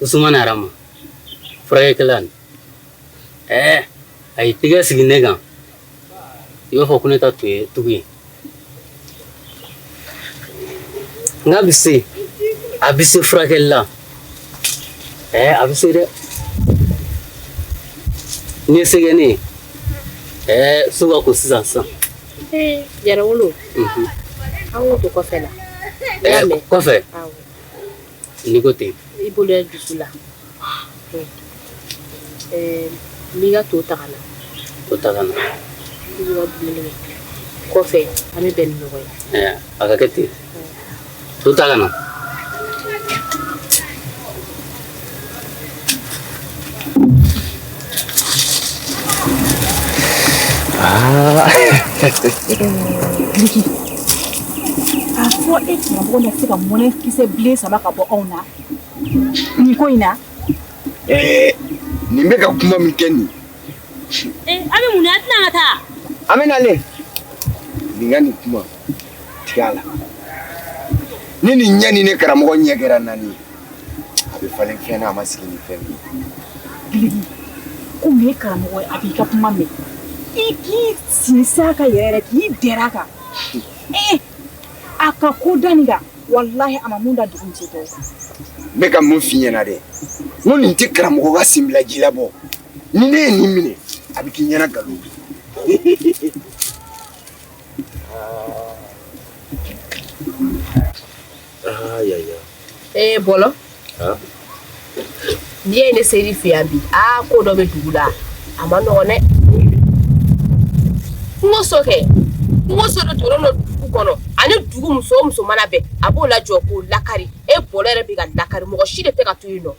usumana yɛrɛ ma furakɛkɛla nin ɛɛ a ye tɛgɛ sigi ne kan i b'a fɔ ko ne ta tun ye tugu ye nka a bɛ se a bɛ se furakɛli la ɛɛ a bɛ se dɛ n'i ye sɛgɛn ne ye ɛɛ so ka ko sisan sisan yɛrɛ wolo an k'o to kɔfɛ la kɔfɛ N'i ko ten i bolo dusu la n'i ka to ta ka na to ta ka na kɔfɛ an bɛ bɛn ɲɔgɔn ye a ka kɛ ten to ta ka na a fɔ e karamɔgɔ na se ka mɔnɛ kisɛ bilen saba ka bɔ anw na nin ko in na nin bɛ ka kuma min kɛ nin an bɛ mun na an tɛna ka taa an bɛ nalen nin ka nin kuma tigɛ a la ni nin ɲɛ ni ne karamɔgɔ ɲɛ kɛra naani ye a bɛ falen fɛn na a ma sigi ni fɛn min ye ko min ye karamɔgɔ ye a b'i ka kuma mɛn i k'i sinsin a ka yɛrɛ yɛrɛ k'i dɛrɛ a kan ee a ka ko da nin kan walahi a ma mun da dugu muso tɔw kan n bɛ ka mun f'i ɲɛna dɛ n ko nin tɛ karamɔgɔ ka senbila ji la bɔ ni ne ye nin minɛ a bɛ k'i ɲɛna nkalon bi aa ya ya ee bɔlɔ ah n'i ye ne seri fɛ yan bi aa ko dɔ bɛ dugu la a man nɔgɔn dɛ n ko so kɛ n ko so dɔ tɔrɔ dɔ dugu kɔnɔ ani dugu muso o muso mana bɛn a b'o lajɔ k'o lakari e bɔlɔ yɛrɛ bɛ ka lakari mɔgɔ si de tɛ ka to yen nɔ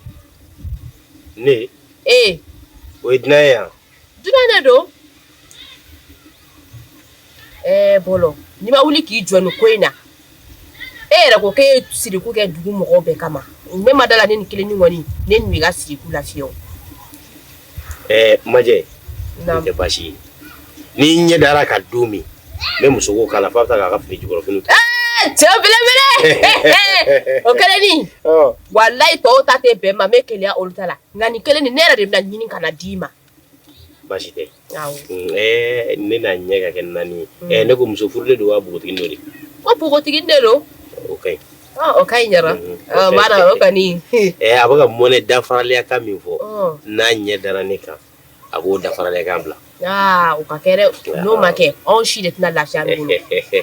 ne ee o ye dunan ye yan Dunan de don ɛɛ bɔlɔ n'i ma wuli k'i jɔ nin ko in na e yɛrɛ ko e siriku kɛ dugu mɔgɔw bɛɛ kama ne ma da la nin kelen ɲɔgɔn ne n'i ka siriku la fewu ɛɛ majɛ tɛ baasi ye n'i ɲɛ dara a kan don min ne muso ko k'a la fa bɛ taa k'a ka fini jukɔrɔfini ta cɛ belebele o kɛlen ni walayi tɔw ta tɛ bɛn ma n bɛ keleya olu ta la Nka nin kelen nin ne yɛrɛ de bɛna a ɲini ka na a d'i ma baasi tɛ ne n'a ɲɛ ka kɛ naani ye ne ko muso furulen don wa npogotigi don de ko npogotigi de don o ka o ka ɲi ɲɛna o ka a bɛka ka mɔnɛ dafaralen a ka min fɔ n'a ɲɛ dara ne kan a b'o dafaralen kan bila u ka kɛ n'o ma kɛ anw si de tɛna lafiya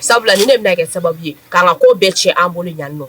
sabula nin de bɛna kɛ sababu ye k'an ka ko bɛɛ cɛn an bolo yan nɔ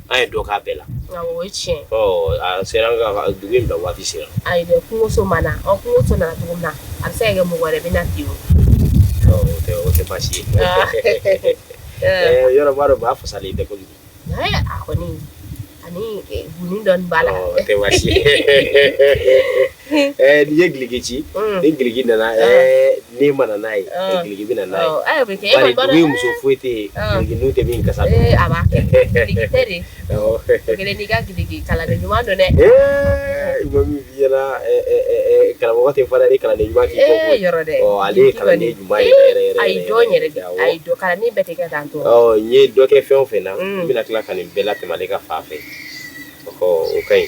An ye dɔ k'a bɛɛ la o tiɲɛ sera dugu in bila waati sera kungoso ma na an kungoso nana dugu na a bɛ se kɛ mɔgɔ wɛrɛ bɛ na bi o tɛ baasi ye yɔrɔ dɔ b'a fasa la dɛ koyi a kɔni ani gundo b'a la tɛ N'i ye Gileki ci ni Gileki nana ni ma n'a ye Gileki bɛ na a ye muso foyi tɛ yen n tɛ min ka karamɔgɔ tɛ fara kalanden ɲuman kɔ ale ye kalanden ɲuman ye yɛrɛ n ye dɔ kɛ fɛn o fɛn na n bɛna tila ka nin bɛɛ latɛmɛ ale ka fan fɛ o ka ɲi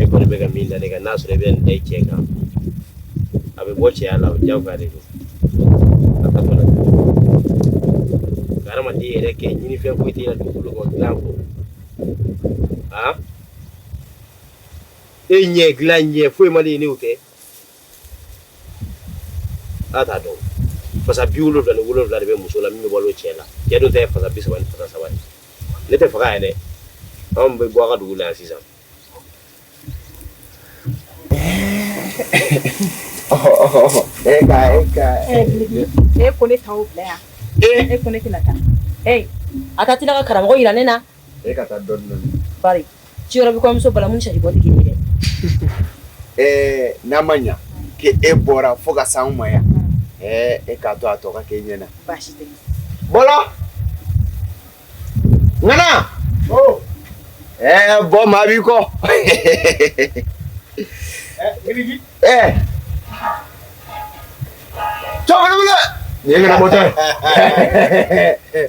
e kɔni bɛ ka min da ne kan n'a sɔrɔ i bɛ nin da i cɛ kan a bɛ bɔ cɛya la o diyagoya de don a ka fana ka hadamaden yɛrɛ kɛ ɲinifɛn foyi t'i la dugukolo kan dilan kɔ e ɲɛ dilan ɲɛ foyi ma de ye ne y'o kɛ a t'a dɔn fasa bi wolonwula ni wolonwula de bɛ muso la min bɛ balo cɛ la cɛ dun tɛ fasa bi saba ni fasa saba ye ne tɛ faga yɛrɛ anw bɛ bɔ a ka dugu la yan sisan e ka e ka e ko ne t'aw bila yan e ko ne tɛna taa ee a ka tila ka karamɔgɔ jira ne na E ka taa dɔɔni dɔɔni bari ci yɔrɔ bɛ kɔɲɔmuso balamini ni sari bɔ tɛ kelen ye dɛ ɛɛ n'a ma ɲɛ k' e bɔra fo ka s'an ma yan ɛɛ e k'a to a tɔ ka k'e ɲɛ na baasi tɛ Bɔlɔ ŋana ɛɛ bɔ maa b'i kɔ ɛɛ cɛkɔrɔba nin ye ŋana bɔtɔ ye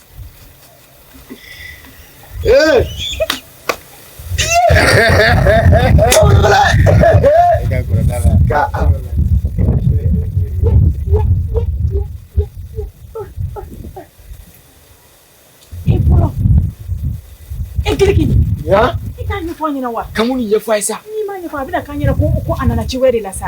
Kuma nin ɲɛfɔ a ye sa. N'i m'a ɲɛfɔ a bɛna k'an yɛrɛ ko ko a nana ci wɛrɛ de la sa.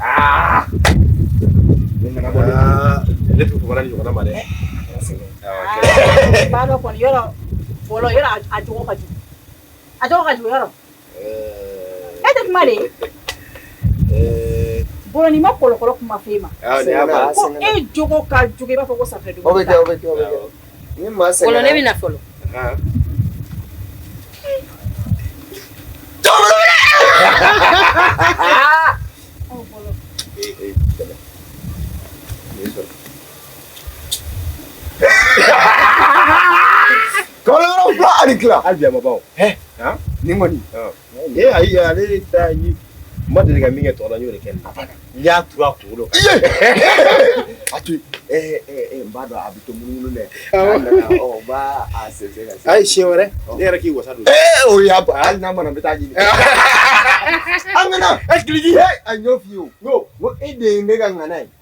Ah! Ne tun fɔra ɲɔgɔn ma dɛ ba dɔ kɔni yɔrɔ fɔlɔ yɔrɔ a jogo ka jugu a jogo ka jugu yɔrɔ e tɛ kuma de Bɔlɔ n'i ma kɔlɔkɔlɔ kuma f'e ma ko e jogo ka jugu i b'a fɔ ko safunɛ dugu Ni maa sɛgɛnna, fɔlɔ ne bɛ na fɔlɔ. Kalo fila ani tila hali bi a ma ban nin kɔni Ee ayi ale ye da ye ma deli ka min kɛ tɔgɔ y'o kɛ n y'a turu a kunkolo a n b'a dɔn a bɛ to munumunu dɛ ayi siɲɛ wɛrɛ ne yɛrɛ k'i wasa don o y'a hali n'a mana bɛ taa ɲini an nana e ki a ɲɔ fɔ'o e de ye ne ka ŋana ye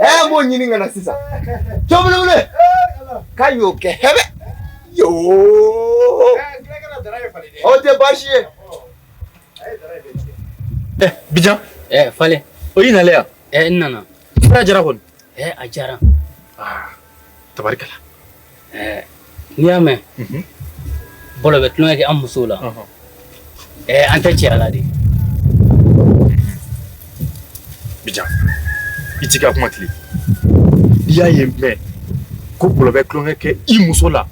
ɛ m'o ɲini ka na sisan cɔbulebule k'a y'o kɛ hɛbɛ yoo o tɛ baasi ye ɛ bijan ɛ falen o y'i nalen yan ɛ n nana fura jara kɔni ɛ a jara tabarikala ɛɛ n'i y'a mɛn bɔlɔ bɛ tulonkɛ kɛ an musow la ɛɛ an tɛ cɛya la de bijan i t'i ka kuma tilen i y'a ye mɛn ko bɔlɔ bɛ tulonkɛ kɛ i muso la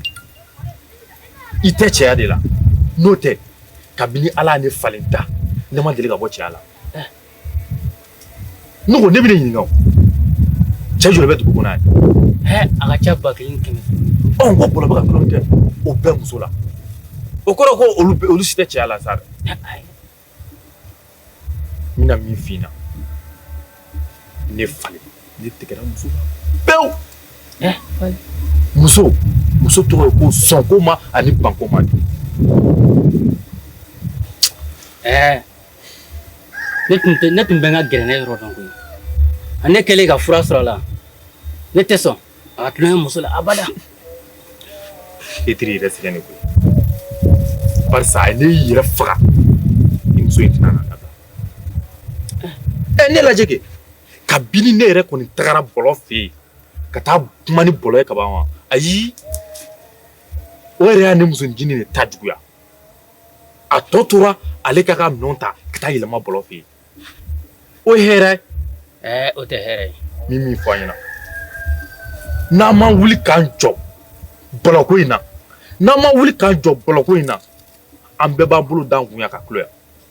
i tɛ cɛya de la n'o tɛ kabini ala ye ne falen da ne ma deli ka bɔ cɛya la Ne ko ne bɛ ɲininka cɛ joli bɛ dugu kɔnɔ a ka ca ba kelen kɛmɛ duuru ko bɔlɔ bɛ ka tulonkɛ kɛ o bɛɛ muso la o kɔrɔ ko olu si tɛ cɛya la sa n bɛna min f'i ɲɛna ne falen ne tigɛra muso la pewu muso muso tɔgɔ ye ko sɔnkoma ani bankoma ɛɛ ne tun tɛ ne tun bɛ n ka gɛrɛnɛ yɔrɔ dɔn koyi ne kɛlen ka fura sɔrɔ a la ne tɛ sɔn a ka tulonkɛ muso la abada Fitiri yɛrɛ sɛgɛn ne koyi barisa a ye ne yɛrɛ faga ni muso in tɛna na ka taa ɛ ne lajɛ kɛ kabini ne yɛrɛ kɔni tagara bɔlɔ fɛ yen ka taa kuma ni bɔlɔ ye kaban wa ayi o yɛrɛ ye ne muso ncinin de ta juguya a tɔ tora ale k'a ka minɛnw ta ka taa yɛlɛma bɔlɔ fɛ yen o hɛrɛ o tɛ hɛrɛ min min fɔ an ɲɛna n'an ma wuli k'an jɔ bɔlɔko in na n'an ma wuli k'an jɔ bɔlɔko in na an bɛɛ b'an bolo d'an kun ka kulo yan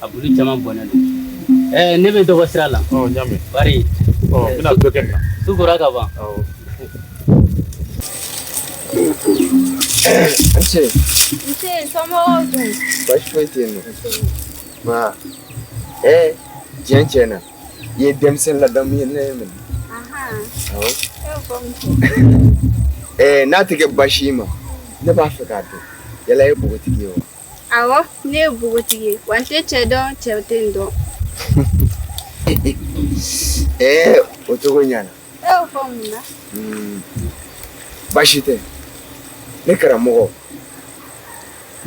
a bulu caman bɔn ne bɛ dɔgɔ sira la su kora ka ban tiɲɛ tiɲɛ na i ye denmisɛnnin ladamu ye ne ye minɛ n'a tɛ kɛ baasi ma ne b'a fɛ k'a dɔn yala i ye npogotigi ye wa Ɔwɔ ne ye npogotigi ye wa n tɛ cɛ dɔn cɛ tɛ n dɔn ɛɛ o cogo ɲana e y'o fɔ mun na baasi tɛ ne karamɔgɔ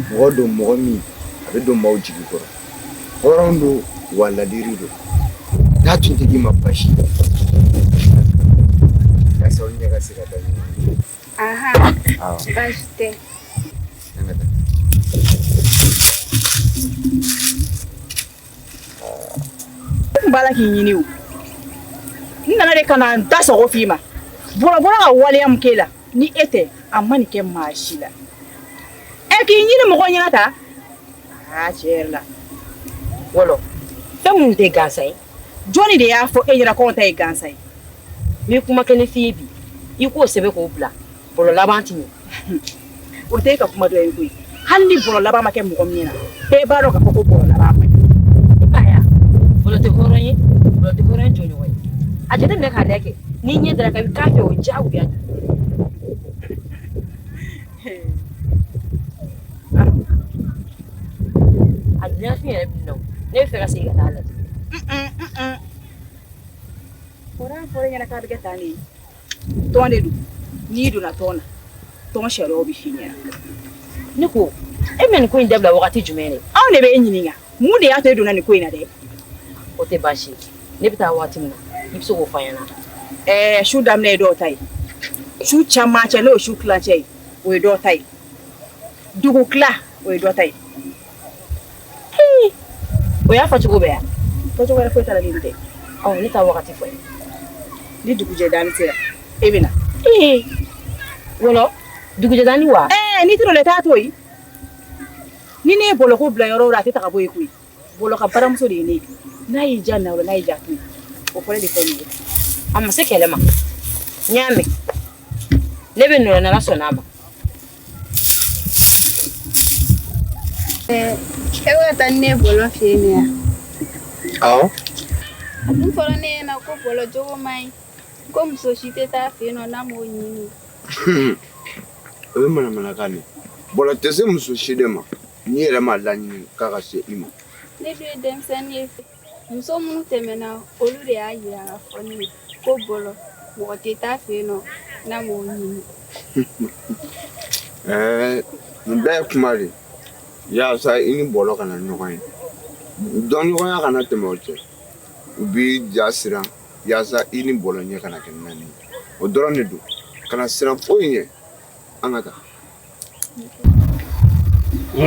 mɔgɔ don mɔgɔ min a bɛ don maaw jigi kɔrɔ hɔrɔn don wa ladiri don n'a tun tɛ k'i ma baasi ye yasa aw ɲɛ ka se ka da ɲɔgɔn ma. Aha. Oh. Baasi tɛ. N b'a la k'i ɲini o n nana de ka na n da sago f'i ma Bɔlɔ bɔra ka waleya min k'e la ni e tɛ a ma nin kɛ maa si la ɛ k'i ɲini mɔgɔ ɲɛna ta aa tiɲɛ yɛrɛ la Wolo fɛn mun tɛ gansan ye Jɔnni de y'a fɔ e ɲɛna k'anw ta ye gansan ye n bɛ kuma kelen f'i ye bi i k'o sɛbɛn k'o bila Bɔlɔ laban tɛ ɲɛ o tɛ e ka kuma dɔ ye koyi hali ni Bɔlɔ laban ma kɛ mɔgɔ min ɲɛna e b'a dɔn k'a fɔ ko Bɔlɔ laban ma ɲɛ Bɔlɔ tɛ hɔrɔn ye Bɔlɔ tɛ hɔrɔn jɔɲɔgɔn ye a jateminɛ k'a lajɛ kɛ n'i ɲɛ dara a kan i k'a fɛ o diyagoya A dilan fi yɛrɛ bi nɔ ne bɛ fɛ ka segin ka taa a lajɛ fɔra fɔra e ɲɛna k'a bɛ kɛ tan de ye tɔn de don n'i donna tɔn na tɔn sariyaw bɛ f'i ɲɛna ne ko e bɛ nin ko in dabila wagati jumɛn de anw de bɛ e ɲininka mun de y'a to e donna nin ko in na dɛ o tɛ baasi ye ne bɛ taa waati min na i bɛ se k'o fɔ n ɲɛna ɛɛ su daminɛ ye dɔw ta ye su camancɛ n'o ye su tilancɛ ye o ye dɔw ta ye dugutila o ye dɔ ta ye Hii, o y'a fɔcogo bɛɛ ye a fɔcogo wɛrɛ foyi t'a la ni nin tɛ ɔ ne taa wagati fɔ n ye ni dugujɛdanin sera e bɛ na Hii, Wolo dugujɛdanin wa ɛɛ n'i tɛ o la i t'a to yen Ni ne ye Bɔlɔ ko bila yɔrɔ o yɔrɔ a tɛ ta ka bɔ yen koyi Bɔlɔ ka baramuso de ye ne ye n'a y'i ja na n'a ja o ko de a ma se kɛlɛ ma n y'a mɛn ne bɛ na n'Ala sɔnna a ma e bɛ taa ni ne ye Bɔlɔ fɛ yen yan a dun fɔra ne ɲɛna ko Bɔlɔ jogo man ɲi ko muso si tɛ taa a fɛ yen nɔ n'a m'o ɲini o ye manamanakan de bɔlɔ tɛ se muso si de ma n'i yɛrɛ m'a laɲini k'a ka se i ma ne dun ye denmisɛnnin ye muso minnu tɛmɛna olu de y'a yira k'a fɔ ne ye ko bɔlɔ mɔgɔ tɛ taa fɛ yen nɔ n'a m'o ɲini ɛɛ nin bɛɛ ye kuma de yaasa i ni bɔlɔ kana ɲɔgɔn ye dɔnɲɔgɔnya kana tɛmɛ aw cɛ u b'i ja siran Yaasa i ni bɔlɔ ɲɛ kana kɛ naani o dɔrɔn de don kana siran foyi ɲɛ an ka taa e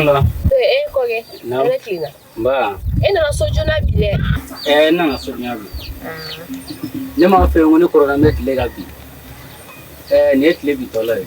nana so joona bi dɛ n nana so bi ne m'a fɔ ko ne kɔrɔ bɛ tile ka bin nin ye tile bintɔla ye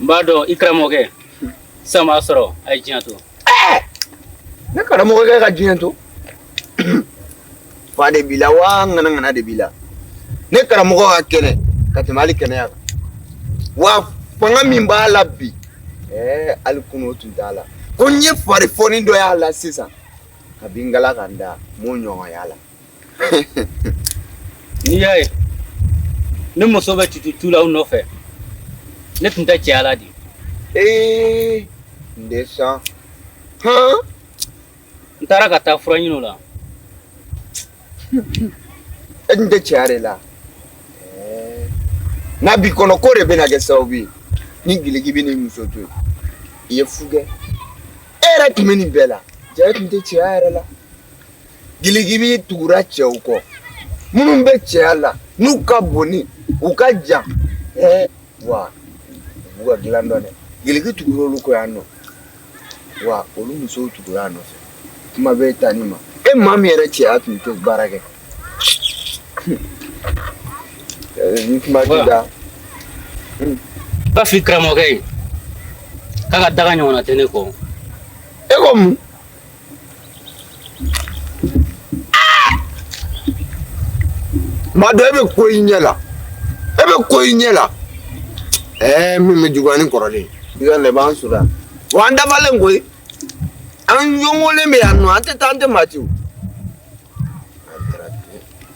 n b'a dɔn i karamɔgɔkɛ sisan b'a sɔrɔ a ye diɲɛ to ne karamɔgɔkɛ ka diɲɛ to fa de b'i la wa ŋanaŋana de b'i la ne karamɔgɔ ka kɛnɛ ka tɛmɛ hali kɛnɛya kan wa fanga min b'a la bi ɛɛ hali kunu o tun t'a la ko n ye fari fɔni dɔ y'a la sisan kabi ngala ka n da n m'o ɲɔgɔn y'a la n'i y'a ye ne muso bɛ tutu tu la aw nɔfɛ ne tun tɛ cɛya la de ee n de san hɔn n taara ka taa fura ɲini o la e tun tɛ cɛya de la n'a b'i kɔnɔ k'o de bɛna kɛ sababu ye ne giligi bɛ ne muso to i ye fu kɛ e yɛrɛ tun bɛ nin bɛɛ la jaa e tun tɛ cɛya yɛrɛ la Giligi bi tugura cɛw kɔ minnu bɛ cɛya la n'u ka bon ni u ka jan ɛɛ wa u ka dilan dɔn dɛ giligi tugura olu kɔ yan nɔ wa olu musow tugura a nɔfɛ kuma bɛ taa ni ma e maa min yɛrɛ cɛya tun tɛ baara kɛ ni kuma tɛ da bafin karamɔgɔkɛ ye k'a ka daga ɲɔgɔnna tɛ ne kɔ e ko mun madɔ e bɛ ko i ɲɛ la e bɛ ko i ɲɛ la ɛɛ min bɛ juguya ni kɔrɔlen i ka na i b'an sɔrɔ yan wa an dafalen koyi an yongolen bɛ yan nɔ an tɛ taa an tɛ maa ci o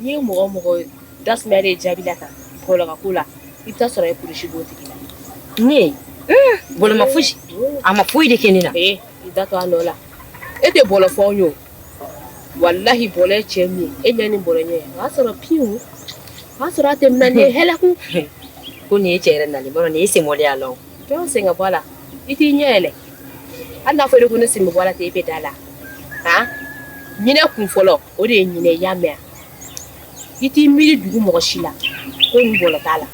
N'i ye mɔgɔ mɔgɔ da de jaabi la tan bɔlɔ ko la i sɔrɔ kulusi b'o tigi la ne bɔlɔ ma foyi si a ma foyi de kɛ ne na i da to dɔ la e tɛ bɔlɔ fɔ an ye walahi bɔlɔ ye cɛ min ye e ɲɛ ni bɔlɔ ɲɛ o y'a sɔrɔ pewu o y'a sɔrɔ a tɛmɛna hɛrɛku ko nin ye cɛ yɛrɛ na nin ye sen mɔya la jɔn sen ka bɔ la i t'i ɲɛ yɛlɛ hali n'a fɔra ko ne sen b'a la ten e bɛ da la a ɲinin kun fɔlɔ o de ye nin ye i y'a mɛn wa, i t'i miiri dugu mɔgɔ si la ko nin bɔlɔ t'a la,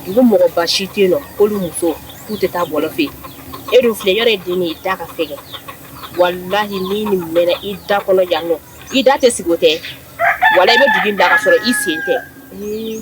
dugu mɔgɔba si tɛ yen nɔ k'olu muso k'u tɛ taa bɔlɔ fɛ yen, e dun filɛ i yɛrɛ ye den de ye i da ka fɛgɛn, walahi ni nin mɛna i da kɔnɔ yan nɔ, i da tɛ sigi o tɛ, walayi i bɛ dugu in bila ka sɔrɔ i sen tɛ, ee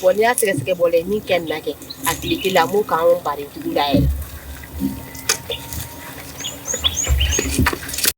Bon n'i y'a sɛgɛsɛgɛ bɔlɔ ye min kɛ nin na kɛ a tile la a m'o k'anw ba jugu la yɛrɛ